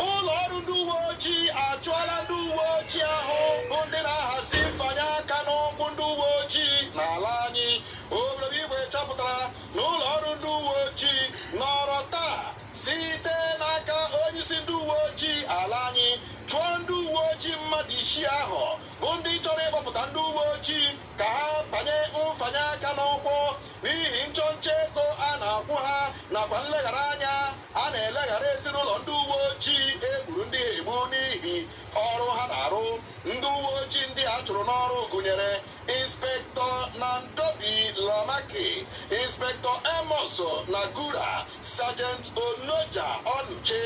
ụlọ ọrụ ndị uwe ojii achụọla ndị uwe ojii ahụ bụ ndị na-ahazi mfanye aka n'ụkwụ ndị uwe ojii n'ala anyị obodo bụ igwe chọpụtara na ụlọ ọrụ ndị uwe ojii nọrọ taa site n'aka onyeisi ndị uwe ojii ala anyị chụọ ndị uwe ojii mmadụ isii ahụ bụ ndị chọrọ ịkpọpụta ndị uwe ojii ka ha banye mfanye aka n'ụkwụ n'ihi nchọnchọ ego a na-akwụ ha nakwa nleghara anya a na-eleghara ezinụlọ ndị uwe ojii e gburu ndị ha egbu n'ihi ọrụ ha na-arụ ndị uwe ojii ndị a chụrụ n'ọrụ gụnyere inspector nandobi lamaki inspector amos nagura sergeant onoja onuche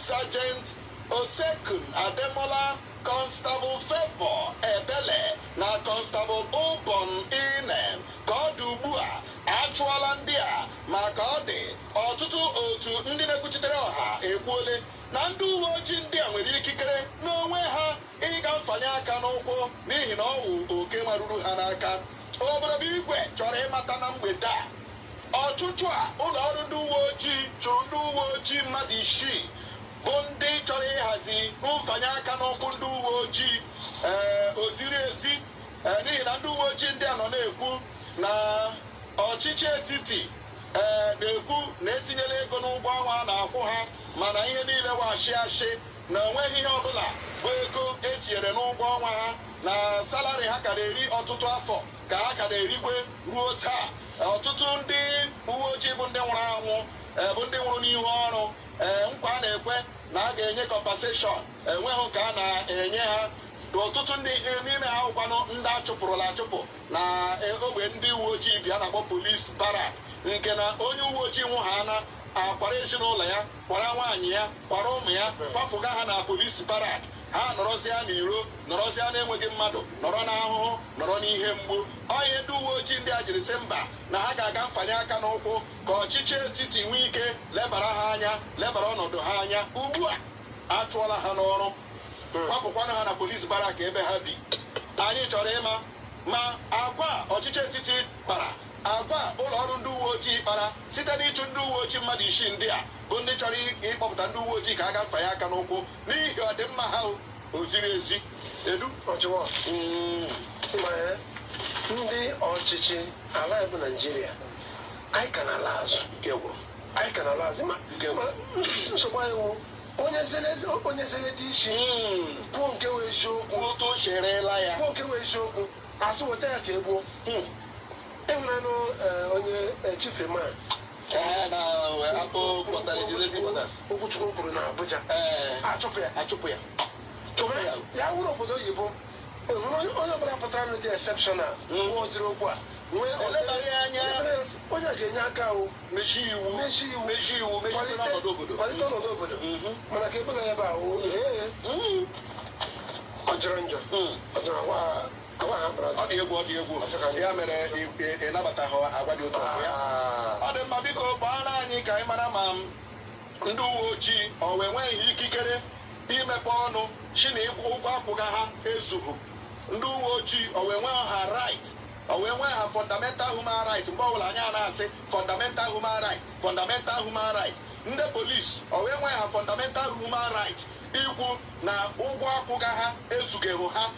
sergeant Osekun Ademola, Constable Favour Ebele na Constable Ubong Inem ka ọ dị ugbu a achụọla ndị a ma ka ọ dị ọtụtụ otu ndị na-ekwuchitere ọha ekwuole na ndị uwe ojii ndị a nwere ikikere n'onwe ha ịga mfanye aka n'ụkwụ n'ihi na ọ wụ oke maruru ha n'aka obodo bụ igwe chọrọ ịmata na mgbede a Ọchụchụ a ụlọ ọrụ ndị uwe ojii chụrụ ndị uwe ojii mmadụ isii bụ ndị chọrọ ịhazi mfanye aka n'ụkwụ ndị uwe ojii ee eh, o ziri ezi eh, n'ihi na ndị uwe ojii ndị a nọ na-ekwu na ọchịchị etiti ee eh, na-ekwu na etinyela ego n'ụgwọ ọnwa a na-akwụ ha mana ihe niile wụ ashị ashị na onweghị ihe ọbụla bụ ego etinyere n'ụgwọ ọnwa ha na salary ha ka na-eri ọtụtụ afọ ka ha ka na-erikwe ruo taa ọtụtụ ndị uwe ojii bụ ndị nwụrụ anwụ eh, bụ ndị nwụrụ n'ihu ọrụ eh, nkwa a na-ekwe na a ga-enye compensation enweghị nke a na-enye ha ọtụtụ ndị eh, n'ime ha wụkwanụ ndị achụpụrụla achụpụ na ogbe ndị uwe ojii bi a na-akpọ police barrack nke na onye uwe ojii nwụha a na-akwara ezinụlọ ya kwara nwaanyị ya kwara ụmụ ya kwapụga ha na police barrack ha nọrọzịa n'iro nọrọzịa na-enweghị mmadụ nọrọ n'ahụhụ nọrọ n'ihe mgbu ọ ihe ndị uwe ojii ndị a jiri sị mba na ha ga-aga mfanye aka n'ụkwụ ka ọchịchị etiti nwee ike lebara ha anya lebara ọnọdụ ha anya ugbu a achụọla ha n'ọrụ kwapụkwanụ ha na police barrack ebe ha bi anyị chọrọ ịma ma agwa ọchịchị etiti kpara agwa ụlọ ọrụ ndị uwe ojii kpara site n'ịchụ ndị uwe ojii mmadụ isii ndị a bụ ndị chọrọ ịkpọpụta ndị uwe ojii ka a ga mfanye aka n'ụkwụ n'ihi ọdịmma ha o o ziri ezi edu ọchịwa Mm, ma ndị ọchịchị ala anyị bụ naijiria anyị ka na-ala azụ ike gwụrụ anyị ka na-ala azụ ma Nke- ma nsogbu anyị wụ onye zere onye zere dị isi Mm, kwuo nke wụ eziokwu otu o sherela ya kwuo nke wụ eziokwu a sị weta ya ka e gbuo Hmm, ịhụnanụ onye eh, chief man Okwuchukwu kwuru na Abuja achụpụ ya achụpụ ya ya wụrụ obodo oyibo o nwere onye ọbụla pụtara na-adị exceptional nwa ụdịrị okwu a onye ga-enye aka ahụ mechi iwu mechi iwu mechi iwu kwalite ọnọdụ obodo mana ka ebe na ebe ahụ ọ jọrọ njọ ọ jọrọ Agwa ha kpọrọ Ọ dị egwu ọ dị egwu ya mere ị- ị- ị nabataghị agwa dị otu ahụ ya Ah. ọ dị mma biko gwanụ anyị ka anyị mara ma m ndị uwe ojii ọ wụ enweghị ha ikikere imepe ọnụ sị na ụgwọ akwụga ha ezughị ndị uwe ojii ọ wụ enweghị ha right ọ wụ enweghị ha fundamental human right mgbe ọbụla anyị a na-asị fundamental human right fundamental human right ndị polisi ọ wụ enweghị ha fundamental human right ikwu na ụgwọ akwụga ha ezughị ha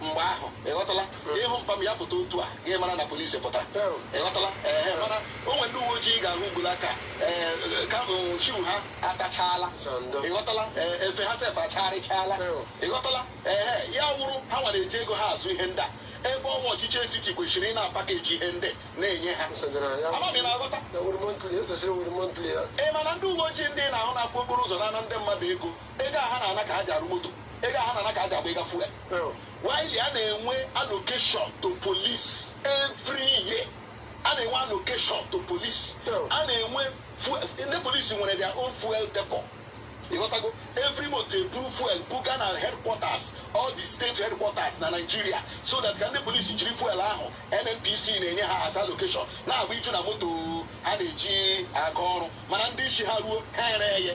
mgbe ahụ ịghọtala ị hụ mpa m ya pụta otu a gị mara na polisi pụtara ịghọtala ee mana o nwere ndị uwe ojii ga-ahụ ugbu a ka ee ka shoe ha atachaala ịghọtala efe ha sef achagharịchaala ịghọtala ee ya wụrụ ha nwere eji ego ha azụ ihe ndị a ebe ọ wụ ọchịchị etiti kwesịrị ị na-apakeji ihe ndị na-enye ha amam ị na-aghọta ị mana ndị uwe ojii ndị na-ahụ na-akwụ okporo ụzọ na-ana ndị mmadụ ego ego a ha na-ana ka ha ji arụ moto ego a ha na-ana ka ha ji agba ịga fuel while a na-enwe allocation to police every year a na-enwe allocation to police a na-enwe ndị polisi nwere their own fuel depot ịghọtago every month eburu fuel buga na headquarters all the state headquarters na Nigeria so that ka ndị polisi jiri fuel ahụ NNPC na-enye ha as allocation na-agbaju na moto ha na-eji aga ọrụ mana ndị isi ha ruo ha eree ya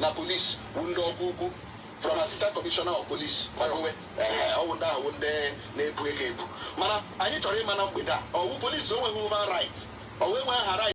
na polisi bụ ndị ọkwa ukwu from assistant commissioner of police magowe ọ wụ ndị ahụ ndị na-ebu ego ebu mana anyị chọrọ ịma na mgbede a ọ wụ polisi o nweghị human right ọ wụ enweghị ha right